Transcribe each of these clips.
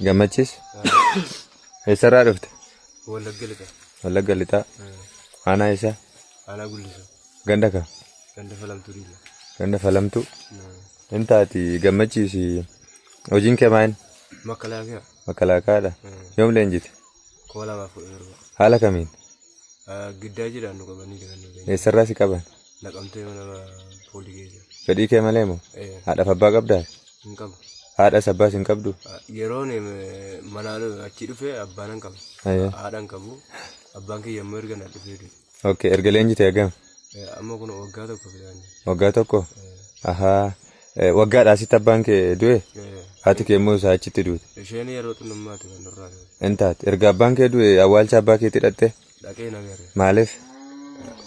Gammachis. Eessarraa dhufte? Wallagga lixa. Wallagga lixaa. Aanaa eessaa? Aanaa guddisa. Ganda kam? Ganda falamtuu dhiila. Ganda falamtuu. Hin taati gammachiisi. Hojiin kee maal? Makalaakaa. Makalaakaadha. Yoom leenjite? Koo lamaaf kudha torba. Haala kamiin? Giddaa jedhaan nu qabanii jiran. Eessarraa si qaban? Naqamtee mana poolii keessa. Fedhii kee malee moo? Eh, Haadhaaf abbaa qabdaa? Hin qabu. Haadhas abbaas hin qabdu? Ah, Yeroon eh, manaa dhu- achii dhufe abbaan hin qabu. Ayyee. Haadha hin qabu. Abbaan kiyya immoo erga na dhufee du'e. Ok, erga leenjitee hagam? Eh, Amma kun waggaa tokko fidaan. Waggaa tokko? Ahaa. Eh, Waggaadhaa asitti abbaan kee du'e? Haati kee immoo isaa achitti duute. Isheen yeroo xinnummaatti kan nurraa du'e. Intaat, erga abbaan kee du'e awwaalcha abbaa keetti hidhatte? dhaqeen agarre. Maaliif?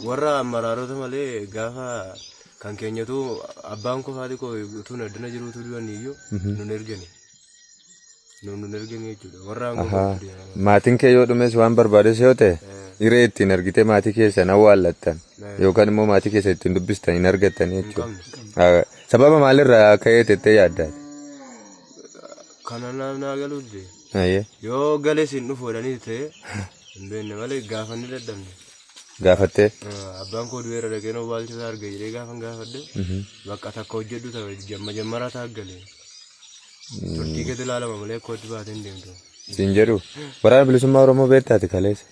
Warra maraarota malee gaafa kan keenyatu abbaan koo haati koo utuu addana jiruutu du'anii iyyuu nun ergani. Nun nun ergani jechuudha. Warra aangoo Ahaa. qabu deemaa. Maatiin kee yoo dhumes waan barbaades yoo ta'e hiree ittiin argitee maatii keessan awwaallattan yookaan immoo maatii keessan ittiin dubbistan hin argattan jechuudha. Ah, Sababa maalirraa ka'ee tettee yaaddaati? Kana naaf naa galuutti. Ayyee. Yoo galee siin dhufu jedhanii ta'e hin beekne malee gaafannee dadhabne. Gaafattee. Ah, Abbaan koo du'eera dhaqeen awwaalcha isaa arga jedhee gaafan gaafadhe bakka takka hojjedhu ta'e jamma jammaraa ta'a gale. Turtii keessa ilaalama malee kootti baatee hin deemtu. Siin jedhu. Waraana bilisummaa Oromoo beektaati kaleessa.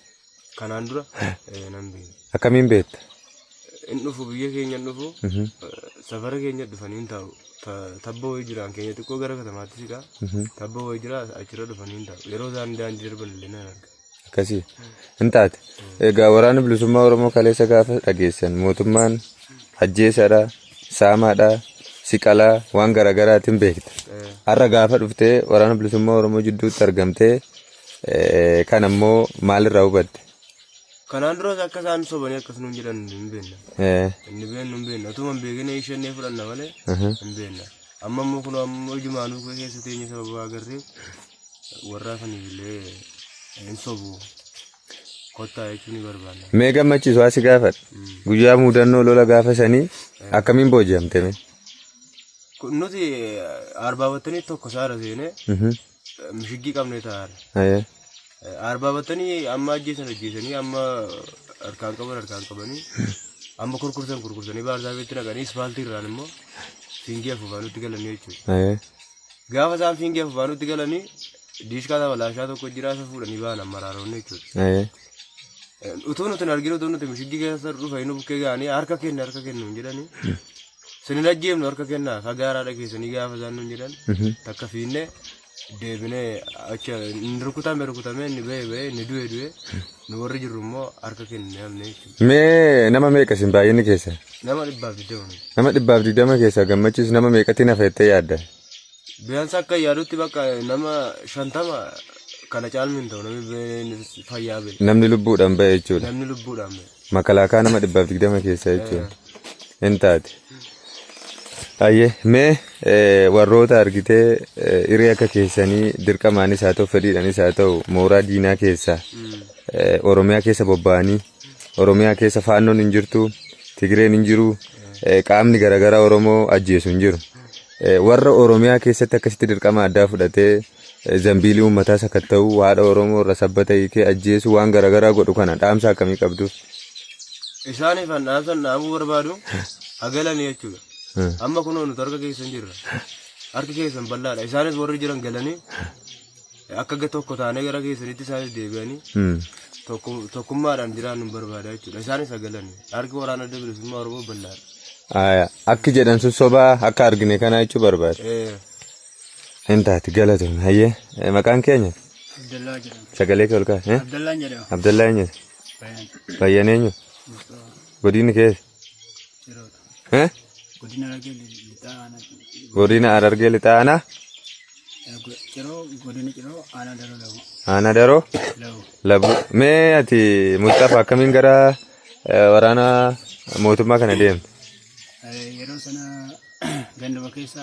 Kanaan dura eh, nan beeku. Akkamiin beekta? Hin dhufu biyya keenya hin dhufu. Mhm, eh, Safara keenya dhufanii hin taa'u. Ta- Tabba wayii jiraan keenya xiqqoo gara katamaatti siqaa. mhm. Tabba wayii jira achirra dhufanii hin taa'u. Yeroo isaan daandii darban illee nan arga. Akkasii hin taate. Egaa waraanni bilisummaa Oromoo kaleessa gaafa dhageessan mootummaan ajjeesaadha, saamaadha, siqalaa waan garaagaraatiin beekta. Eh, Har'a gaafa dhuftee waraana bilisummaa Oromoo jidduutti argamtee Kana immoo maalirraa hubatte? Kanaan duras akka isaan sobanii akkas nuun jedhan hin beekna. Eh, Inni beeknu hin beekna. Otuma hin beekne ishennee fudhanna malee aha. hin beekna. Amma immoo kun ammoo ijumaanuu koo keessa teenya sababa agarreef warraa saniif illee hin sobu. Kottaa jechuun ni barbaanna. Mee gammachiisu asi gaafadha. Mm. Guyyaa mudannoo lola gaafa sanii akkamiin booji'amte mee? Kun Nuti arbaa battanii tokko saara seenee Mhm. mishiggii qabnee taa'an. Ayee. Arbaa battanii amma ajjeesan ajjeesanii amma harkaan qaban harkaan qabanii amma kurkursan kurkursanii baarzaafeetti naqanii ispaaltii irraan immoo fiingii afuufaanutti galanii jechuudha. Ayee. Gaafa isaan fiingii afuufaanutti galanii diishkaa lama laashaa tokko jiraa isa fuudhanii ba'an amma raaroonni jechuudha. Ayee. Utuu nuti hin arginu utuu nuti mishiggii keessa dhufa inni bukkee ga'anii harka kenna harka kennu hin jedhanii Sin hin ajjeefnu harka kennaa fagaa haadha keessanii gaafa isaan nun jedhan takka fiinne deebinee achi inni rukutame rukutame inni ba'e ba'e inni du'e du'e nu warri jirru immoo harka kennine hamne jechuudha. Mee nama meeqa isin baay'inni keessa? Nama dhibbaaf digdama nu. Nama dhibbaaf digdama keessa gammachiis nama meeqatti nafa jettee yaadda? Biyyaansi akka yaadutti bakka nama shantama kana caalmi hin ta'u namni ba'e fayyaa ba'e Namni lubbuudhaan ba'e jechuudha. namni lubbuudhaan ba'e. Makalaakaa nama dhibbaaf digdama keessaa jechuun hin taate. Ayyee mee eh, warroota argitee eh, hiree akka keessanii dirqamaanis haa ta'u fedhiidhaanis haa ta'u mooraa diinaa keessa eh, Oromiyaa keessa bobba'anii Oromiyaa keessa faannoon hin jirtu Tigireen hin jiru eh, qaamni garaagaraa Oromoo ajjeesu hin jiru. Eh, Warra Oromiyaa keessatti akkasitti dirqama addaa fudhatee Zambiilii uummataa sakatta'uu, haadha Oromoo irra sabbata hiikee ajjeesuu waan garaagaraa godhu kana dhaamsa akkamii qabduuf? Isaaniif an dhaamsan dhaamuu barbaadu ha galanii jechuudha. Amma kunoo nuti harka keessan jirra. Harki keessan bal'aadha. Isaanis warri jiran galanii akka ga- tokko taanee gara keessanitti isaanis deebi'anii Hmm. tokko- tokkummaadhaan jiraannu barbaada jechuudha. Isaanis ha galanii. Harki waraana adda bilisummaa Oromoo bal'aadha. Aya, Akki jedhan sun sobaa akka argine kanaa jechuu barbaada. Eh, Hin taati galatoon hayyee Eh, maqaan keenya Abdallaa jedhama. sagalee kee ol kaa'e. eh? Abdallaan jedhama. Abdallaa eenyu Bayan. bayyan eenyu Mustafa godinni kee Jiroota. eh? Godina Harargee Lixaa Aanaa godina Harargee lixaa aanaa Ciroo. Ciroo godina Ciroo Aanaa Daroo Labu. aanaa daroo Labu. labu mee ati Mustafa akkamiin gara eh, waraana mootummaa kana deemte Yeroo sana ganduma keessa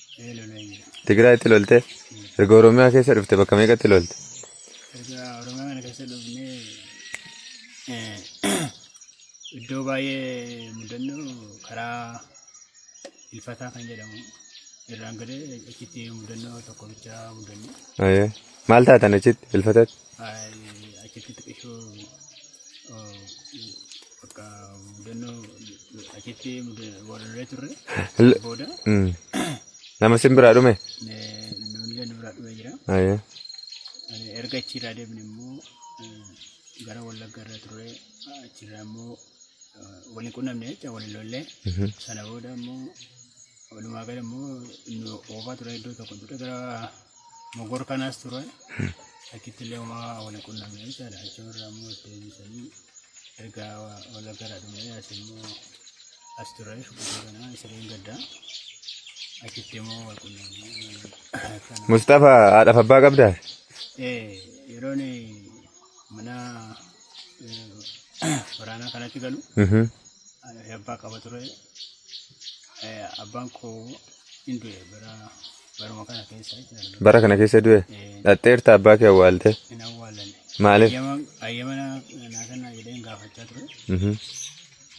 Ee lolee jira. Tigraayitti lolte? Erga Oromiyaa keessa dhufte bakka meeqatti lolte? Erga Oromiyaa kana keessa dhufnee eh, iddoo baay'ee mudannoo karaa ilfataa kan jedhamu irraan gadee achitti mudannoo tokko bicha mudanne. Ayee. Maal taatan achitti ilfatatti? Ay, Achitti xiqqishoo oh, Bakka mudannoo achitti muda- walirree turre L- booda Mm. Nama sin biraa dhume? eh, namni illee nu biraa dhufee jira. Ayyee. Eh, Erga achiirraa deemne immoo eh, gara Wallagga irra turre achiirraa immoo eh, waliin qunnamne jecha waliin lollee Mhm. sana booda immoo walumaa gala immoo nu oofaa ture iddoo tokko ture gara Mogor kanas ture. Akkitti illee uumaa wal qunnamee jechaadha. Achuma irraa immoo itti eebbisanii erga wal gara dhumee as immoo as ture shukurii kana isireen gaddaa. Akkitti immoo wal qunnamee kana. Mustafa haadhaaf abbaa qabdaa? Eh, yeroon mana eh, waraanaa kanatti galu Mhm. eh, abbaa qaba ture. Eh, Abbaan koo hin du'e bara baruma kana keessa jechuudha. Bara kana keessa du'e. Eh, Dhaxxeerta abbaa kee awwaalte. hin awwaallanne. Maaliif? Ayyama- Ayyama naa naa kennaa jedheen gaafachaa ture. Mhm.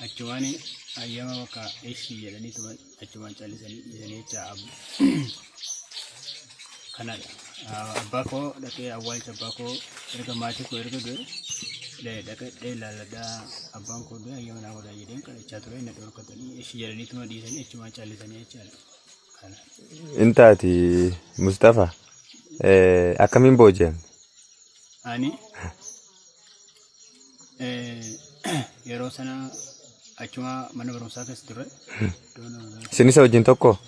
Achumaan ayyama bakka ishii jedhanii tuman achumaan callisanii dhiisanii jecha ab- kanadha. Ah, Abbaa koo dhaqee awwaalcha abbaa koo erga maatii koo erga du'e dhaqee dhaqee ilaalladhaa abbaan koo du'e ayyama naa godhaa jedheen kadhachaa ture na dhorkatanii ishii jedhanii tuma dhiisanii achumaan callisanii jechaadha. Intaati Mustafa akkamiin booji'an? Ani yeroo sana achuma mana barumsaa keessa ture. Isin isa wajjin tokko?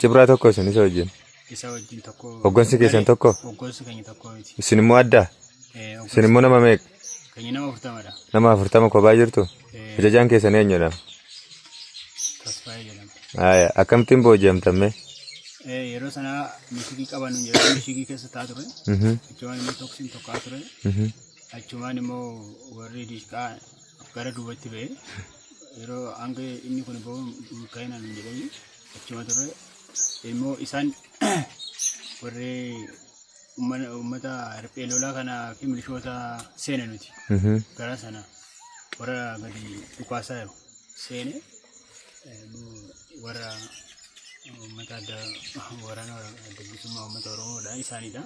Cibraa tokko isin isa wajjin? Isa wajjin tokko. Hoggansi keessan tokko? Hoggansi keenya tokko miti. Isin immoo adda? Isin immoo nama meeqa? Keenya nama afurtama dha. Nama afurtama kophaa jirtu? Eh, Ajajaan keessan eenyudha? Tasfaayee jedhama. Haaya, akkamittiin booji'amtan mee? Eh, Yeroo sana mishigii qaban yeroo mishigii keessa taa ture. Mhm, Achumaan immoo toksiin tokkaa ture. mhm. Achumaan immoo warri diishqaa gara duubatti ba'e. Yeroo hanga inni kun ba'u milkaa'ina hin jedhanii achuma ture. Immoo isaan warri Ummana- Uummata riphee lolaa kanaa fi milishoota seena nuti Mhm. gara sana warra gadi dhukaasaa jiru seene eh, nu- warra uummata adda waraana wara- adda bilisummaa uummata oromoodha isaanidha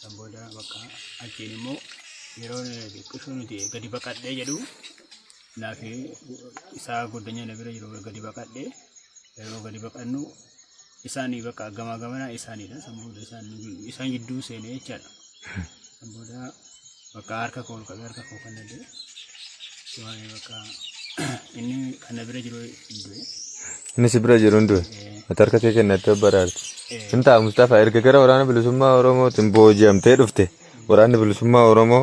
kan booda bakka achiin immoo yeroo xiqqisho nuti gadi baqadhee jedhu Anaa fi isaa goddanyaa na bira jiru gadi baqadhe yeroo gadi baqannu isaanii bakka gamaa gamanaa isaaniidha san booda isaan isaan gidduu seenee jechaadha san booda bakka harka koo ol qabee harka koo kan nadee waa'ee bakka inni kan na bira jiru du'e Inni si bira jiru hin du'e. Ati harka kee kennattee of baraarte. Hin ta'a Mustafaa erga gara waraana bilisummaa Oromootiin booji'amtee dhufte waraanni bilisummaa Oromoo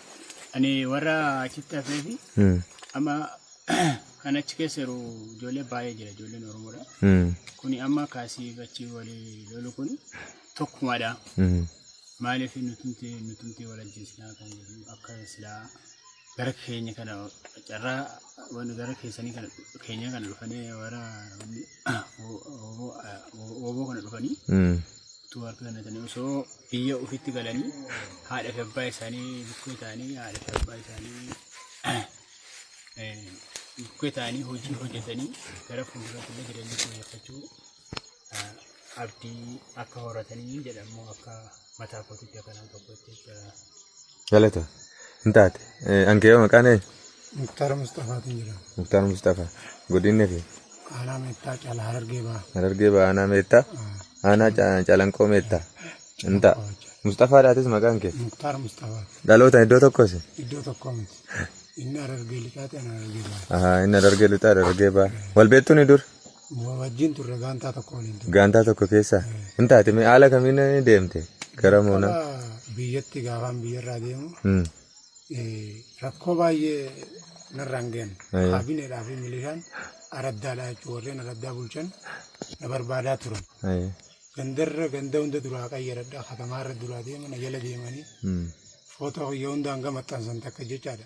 Ani warra achitti hafee fi Mm. amma kan achi keessa jiru ijoollee baay'ee jira ijoolleen Oromoodha. Mm. Kuni amma kaasii achi walii lolu kuni tokkumadha. Mm. Maaliif nutumti nutumti wal ajjeesinaa kan jedhu akka silaa gara keenya kana carraa waan gara keessanii kana keenya kana dhufanii warra Ooboo kana dhufanii utuu harka kennatanii osoo biyya ofitti galanii haadha fi abbaa isaanii bukkee ta'anii haadha fi abbaa isaanii bukkee ta'anii hojii hojjetanii gara fuulduraatti illee jireenya fooyyeffachuu abdii akka horatanii jedhamu akka mataa kootiitti akka nama tokkotti jechuudha. Galata. Hin taate. Ankee maqaan eenyu? Muktaar Mustafaatiin jedhama. Muktaar Mustafaa. Godinni fi Aanaa Meettaa Caalaa Harargee Bahaa. Harargee Bahaa Aanaa Meettaa. Aanaa Ca- Calanqoo Meettaa. Hin ta'a. Mustafaa dhaatis maqaan kee. Muktaar Mustafaa. Dhalootaan iddoo tokkosi. Iddoo tokko miti. Inni Harargee Lixaati ana Harargee Bahaa. Ahaa inni Harargee Lixaa Harargee Bahaa. Wal beektuu ni dur? Wajjin turre gaantaa tokko waliin turre. Gaantaa tokko keessa hin taate mee haala kamiin deemte gara moonaa? Akka biyyatti gaafaan biyyarraa deemu Hmm. eh, rakkoo baay'ee narraan ga'an. Ayyo. Kaabineedhaa fi milishaan araddaadhaa jechuun warreen araddaa bulchan na barbaadaa turan. Ayyo. Gandarra ganda hunda duraa qayyaradha katamaarra duraa deema na jala deemanii Hmm. footoo kiyya hunda hanga maxxansan takka jechaadha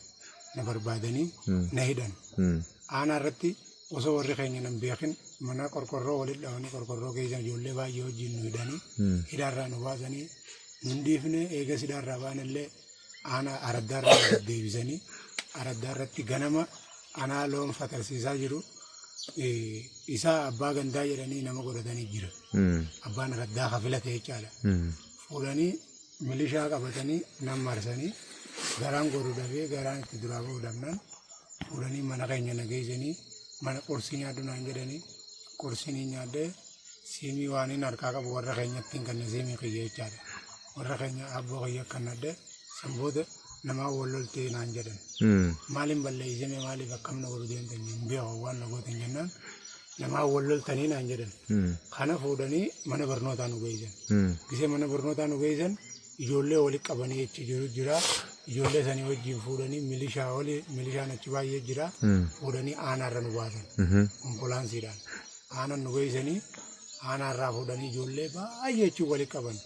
na barbaadanii Hmm. na hidhan. Hmm. Aanaa irratti osoo warri keenya nan beekin mana qorqorroo walitti dhabanii qorqorroo keessa ijoollee baay'ee wajjin nu hidhanii hidhaarraa nu baasanii nun dhiifne eega hidhaarraa baanillee aanaa araddaarraa nu deebisanii araddaarratti ganama anaa loon fatarsiisaa jiru eh, isaa abbaa gandaa jedhanii nama godhatanii jira abbaan araddaa kafila ta'e jechaadha fudhanii milishaa qabatanii nan marsanii garaan godhu dhabee garaan itti duraa ba'u dhabnan fudhanii mana keenya na geessanii mana qorsii nyaadhu naan jedhanii qorsii ni nyaadhee siimii waan hin harkaa qabu warra keenyatti hin kanne siimii kiyya jechaadha. Warra keenya abboo kiyya kan nadde san booda namaa wal loltee naan jedhan. Maaliin balleessime maaliif akkamna godhu deemtan hin beeku waan na gootan jennaan namaa wal loltanii naan jedhan. Kana fuudhanii mana barnootaa nu geessan. Gisee mana barnootaa nu geessan ijoollee walitti qabanii achi jiru jira. Ijoollee sanii wajjin fuudhanii milishaa oli milishaan achi baay'ee jira. Fuudhanii aanaarra nu baasan. Ambulaansiidhaan. Aanan nu geessanii aanaarraa fuudhanii ijoollee baay'ee achi walitti qaban.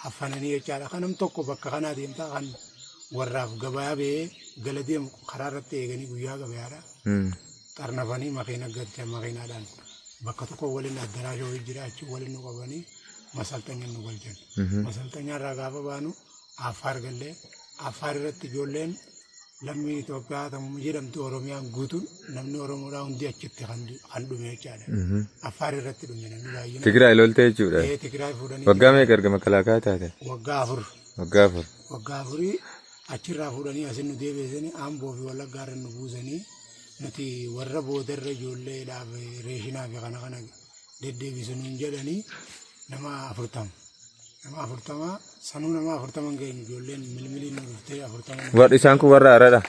Haffananii jechaadha. Kanam tokko bakka kanaa deemtaa kan warraaf gabaa ba'ee gala deemu karaa irratti eeganii guyyaa gabayaadha. xarnafanii makiina galchan makiinaadhaan bakka tokko waliin addaraasha wayii jira achi waliin nu qabanii masalxanya nu galchan. Masalxanya irraa gaafa baanu affaar gallee affaar irratti ijoolleen lammii Itoophiyaa tamuma jedhamtu Oromiyaan guutuun namni Oromoodhaa hundi achitti kan du- kan dhume jechaadha. Affaar irratti dhume namni baay'inaan. Tigraay lolte jechuudha. Ee, Tigraay fuudhanii Waggaa meeqa erga makalaakaa taate? waggaa afur Waggaa afur. waggaa afurii achirraa fuudhanii asin nu deebiisanii amboo fi wallaggaarra nu buusanii nuti warra boodarra ijoollee dhaaf reeshinaa fi kana kana deddeebisu nuun jedhanii nama afurtama. Nama afurtama sanuu nama afurtama hin geenyu ijoolleen milmiliin nu dhuftee afurtama nu- Warri isaan kun warra haradha.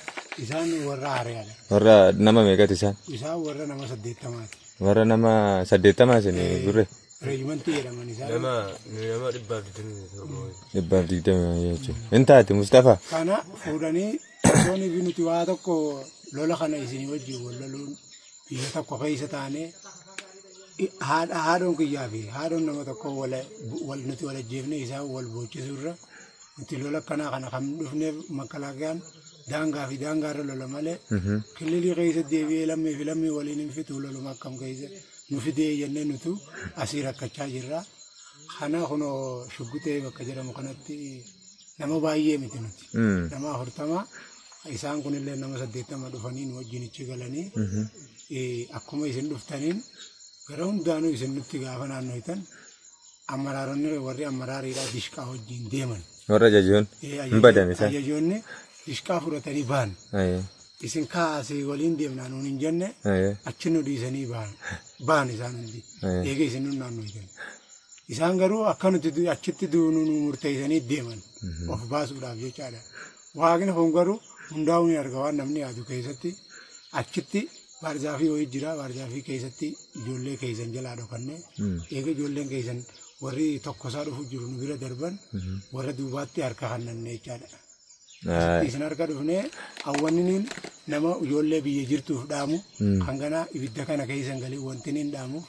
isaan warra hariyaadha. Warra nama meeqati isaan? Isaan warra nama saddeettamaati. Warra nama saddeettamaa isin gurre Reejimantii jedhaman isaan. Nama nama dhibbaaf digdamii torba. dhibbaaf digdama jechuudha. Hin taate Mustafaa. Kana fuudhanii Osoon ifi nuti waa tokko lola kana isinii wajjin wal loluun biyya tokko keessa taanee haadha haadhoon kiyyaa fi haadhoon nama tokko wal nuti wal ajjeefnee isaan wal boochisuu irra nuti lola akkanaa kana kan dhufneef makkalaakiyaan daangaa fi daangaa irra lola malee kililii keessa deebi'ee lammii fi lammii waliin hin fituu loluma akkam keessa nu fidee jennee nutu asii rakkachaa jirra. Kana kunoo shuggutee bakka jedhamu kanatti Nama baay'ee miti nuti. Nama afurtama isaan kunillee nama saddeettama dhufanii nu wajjin ichi galanii eh, akkuma isin dhuftaniin gara hundaanuu isin nutti gaafa naannoytan amaraaronni warri amaraariidhaa dishqaa wajjin deeman. Warra ajajoon Eh, hin ajajo- badan isaan. Ajajoonni dishqaa fudhatanii ba'an. Aye, Isin kaasee waliin deemnaa nuun hin jenne aye, achi nu dhiisanii ba'an. Ba'an isaan hundi. Aye. Eega isin nu naannoytan. Isaan garuu akka nuti du- achitti duunu nu murteessanii deeman of baasuudhaaf jechaadha. Waaqni kun garuu hundaa'uu ni arga waan namni yaadu keessatti achitti baarzaafii wayii jira baarzaafii keessatti ijoollee keessan jalaa dhokannee eega ijoolleen keessan warri tokkosaa dhufu jiru nu bira darban warra duubaatti harka hannanne jechaadha. Isin harka dhufnee hawwanniniin nama ijoollee biyya jirtuuf dhaamu kan ganaa ibidda kana keessan galee wantiniin dhaamu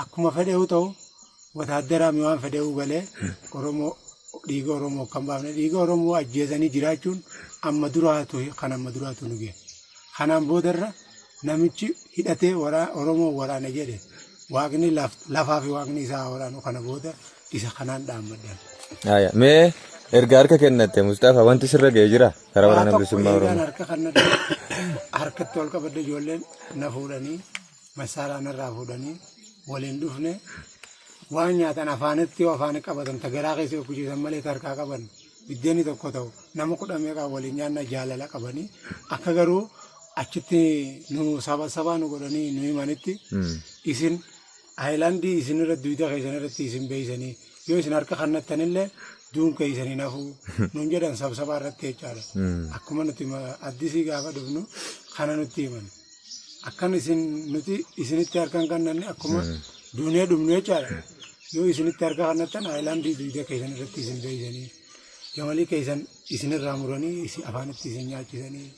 akkuma fedheewu ta'u wataaddaraa mi waan fedheewu galee Oromoo dhiiga Oromoo kan baafne dhiiga Oromoo ajjeesanii jiraachuun amma duraatu kan amma duraatu nu ga'e. Kanaan boodarra namichi hidhatee Oromoo waraana jedhe waaqni lafaa fi waaqni isaa haa waraanu kana booda isa kanaan dhaammadhan. Haaya mee erga harka kennatte Musxafa wanti sirra ga'e jira karaa waraana bilisummaa Oromoo. Waan tokko eegaan harka kennadde harkatti ol qabadde ijoolleen na fuudhanii masaaraa narraa fuudhanii waliin dhufne waan nyaatan afaanitti yoo afaan qabatan ta garaa keessa yoo kuchiisan malee ta harkaa qaban Biddeenni tokko ta'u nama kudha meeqaa waliin nyaanna jaalala qabanii akka garuu achitti nu saba sabaa nu godhanii nu himanitti isin ayilaandii isin irra duyda keessan irratti isin beeksanii yoo isin harka kannattanillee duun keessanii nafuu nuun jedhan sabsabaa irratti jechaadha. Akkuma nuti ma- addisii gaafa dhufnu kana nutti himan. Akkan isin nuti isinitti harka hin kannanne akkuma duunee dhumnu jechaadha. Yoo isinitti harka kannattan aayilaandii dugda keessan irratti isin beeksanii jamalii keessan isinirraa muranii isin afaanitti isin nyaachisanii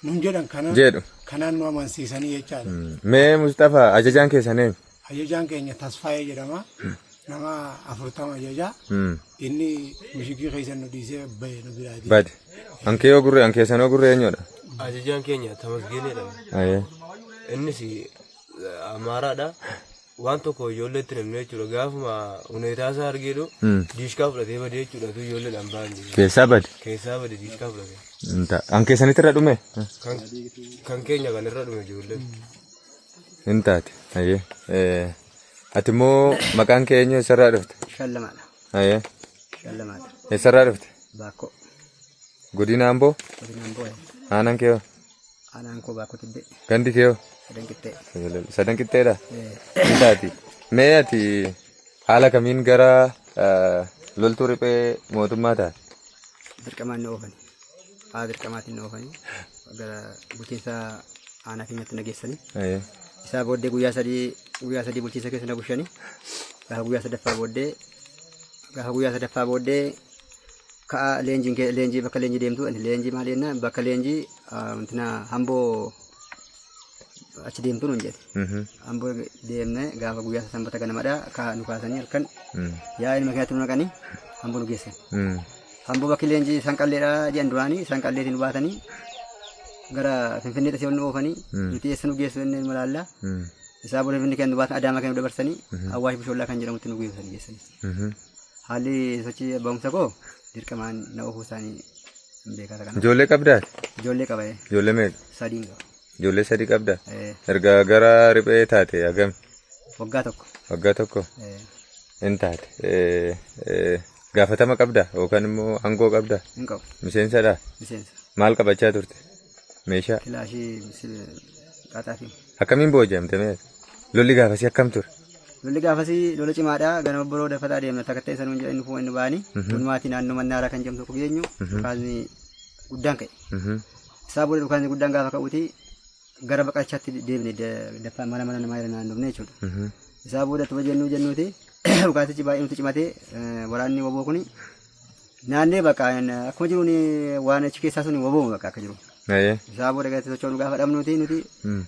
nun jedhan kanaan Jedhu. kanaan nu amansiisanii jechaadha. Mee Musxafaa ajajaan keessan eenyu? Ajajaan keenya Tasfaayee jedhama. Nama afurtama ajaja. Inni mishigii keessa nu dhiisee bahe nu biraati. Bade. Ankee yoo gurree ankee sanoo gurree eenyudha? Ajajaan keenya Tamasgeen jedhama. Ayee. Innis Amaaraadha. Waan tokko ijoolleetti namni jechuudha. Gaafuma huneetaa isaa argeedhu diishkaa fudhatee badee jechuudha. Tu ijoolleedhaan ba'an jiru. Keessaa bade. Keessaa bade diishkaa fudhatee. Ankee sanitti irra dhume? Kan keenya kan irra dhume ijoolleen. Hin taate. Ayyee. Eh, Ati immoo maqaan kee eenyu eessarraa dhufte? Shallamaadha. Ayyee. Shallamaadha. Eessarraa dhufte? Baakkoo. Godina Amboo? Godinaan boo'e. Aanaan kee hoo? Aanaan koo baakkoo tibbee. Gandi kee hoo? Sadan qixxee. Sadan qixxeedha? Eh, Hin taati. Mee ati haala kamiin gara eh, loltuu riphee mootummaa taate? Dirqamaan na oofan. Haa dirqamaatiin na oofanii gara bulchiinsa aanaa keenyatti na geessanii. Ayyee. Isaa booddee guyyaa sadii guyyaa sadii bulchiinsa keessa na bulchanii gaafa guyyaa sadaffaa booddee gaafa guyyaa sadaffaa booddee ka'a leenjiin kee leenjii bakka leenjii deemtu ani leenjii maal jennaan bakka leenjii ah, wantina hamboo achi deemtu nuun jedhe. Mhm. Amboo deemne gaafa guyyaa isaa sanbata ganamadha ka nu kaasanii halkan Mm. yaa ilma keenyatti nu naqanii amboo nu geessan. Mm. Amboo bakki leenjii isaan qalleedha jedhan duraanii isaan qalleetiin nu baatanii gara finfinneetti si ol nu oofanii Mm. nuti eessa nu geessu inni ilma laallaa Mm. isaa booda finfinnee keenya nu baatan adaamaa keenya nu dabarsanii awwaash bishoollaa kan jedhamutti nu geessan geessanii. Mhm. Haalli sochii ba'umsa koo dirqamaan na oofuu isaanii Hin beekaa kana. Ijoollee qabdaa? Ijoollee qaba ee. Ijoollee meeqa? Sadiin qaba. Ijoollee sadii qabdaa? Ee, Erga gara riphee taate hagam? Waggaa tokko. Waggaa tokko Ee, hin taate. Eh, eh, Gaafatama qabdaa yookaan immoo aangoo qabdaa? Hin qabu. Miseensadhaa? Miseensa. Maal qabachaa turte? Meeshaa? Kilaashii misil qaxaafi. Akkamiin booji'amte mee? Lolli gaafasii akkam ture? Lolli gaafasii lola cimaadha. Ganama boroo dafata adeemna. Takka ta'e sanuun jedhanii fuuma inni ba'anii. Hunumaatii naannoo mannaaraa kan jedhamtu tokko geenyu. Dhukaasni guddaan ka'e. Isaa booda dhukaasni guddaan gaafa ka'uuti gara baqachaatti deebine daffaa mana mana namaa irra naannofne jechuudha. Isaa booda tuba jennuu jennuuti dhukaasichi baay'ee nuti cimatee waraanni waboo kuni Naannee bakka akkuma jiruun waan achi keessaa sun wobooma bakka akka jiru. Ayee. Isaa booda gadi sochoonu gaafa dhabnuuti nuti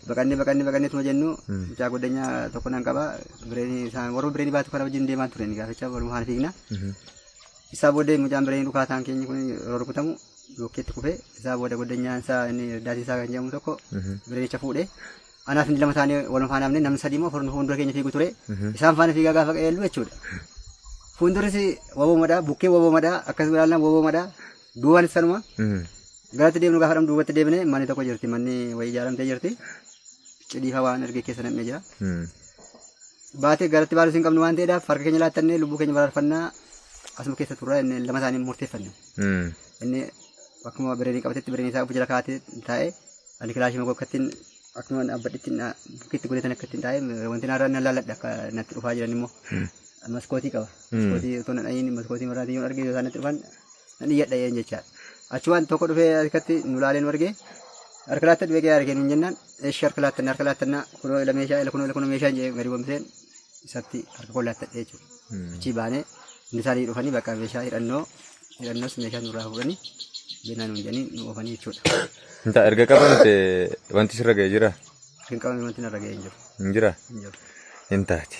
baqannee baqannee baqannee tuma jennu mucaa goddanyaa tokko nan qaba bireenii isaan warra bireenii baatu kana wajjin deemaa turan gaaficha waluma haala fiigna. Isaa booda mucaan bireenii dhukaataan keenya kun yeroo rukutamu yookiitti kufee isaa booda goddanyaan isaa inni irdaatii isaa kan jedhamu tokko bireenicha fuudhee Anaa fi inni lama taanee wal faana hafne namni sadii immoo afur nu fuuldura keenya fiigu ture. Isaan faana fiigaa gaafa qajeellu jechuudha. Fuuldurris waboomadha, bukkee waboomadha, akkas ilaallaan waboomadha, duubaan sanuma. Garatti deemnu gaafa dhamnu duubatti deebine manni tokko jirti, manni wayii ijaaramtee jirti. Cidhiifa waan argee keessa nam'ee jira. Baatee garatti baalus hin qabnu waan ta'eedhaaf harka keenya laattannee lubbuu keenya baraarfannaa asuma keessa turraa inni lama isaanii murteeffanne. Inni akkuma bireenii qabatetti bireenii isaa of jala kaa'atee taa'ee ani kilaashii makoo akkattiin akkuma dhaabbadhetti bukkeetti godhetan akkattiin taa'ee wanti naarraa na laalladha akka natti dhufaa jiran immoo maskootii qaba. Maskootii otoo na dhayin maskootii marraatii yoon arge yoo isaan natti dhufan nan iyyadha yeen jechaa. Achumaan tokko dhufee harkatti nu laalee nu argee harka laattadhu beekee harkeen hin jennaan eeshi harka laattanna harka laattanna kunoo ila meeshaa ila kunoo ila kunoo meeshaa hin jee gadi bombiseen isatti harka koo laattadhee jechuudha. Achii baanee hundi isaanii dhufanii bakka meeshaa hidhannoo hidhannoos meeshaa nurraa fuudhanii beenaa nuun jedhanii nu oofanii jechuudha. Inta erga qabamte wanti sirra ga'e jira? Kan qabame wanti narra ga'e hin jiru. Hin jira? Hin jiru. Hin taati.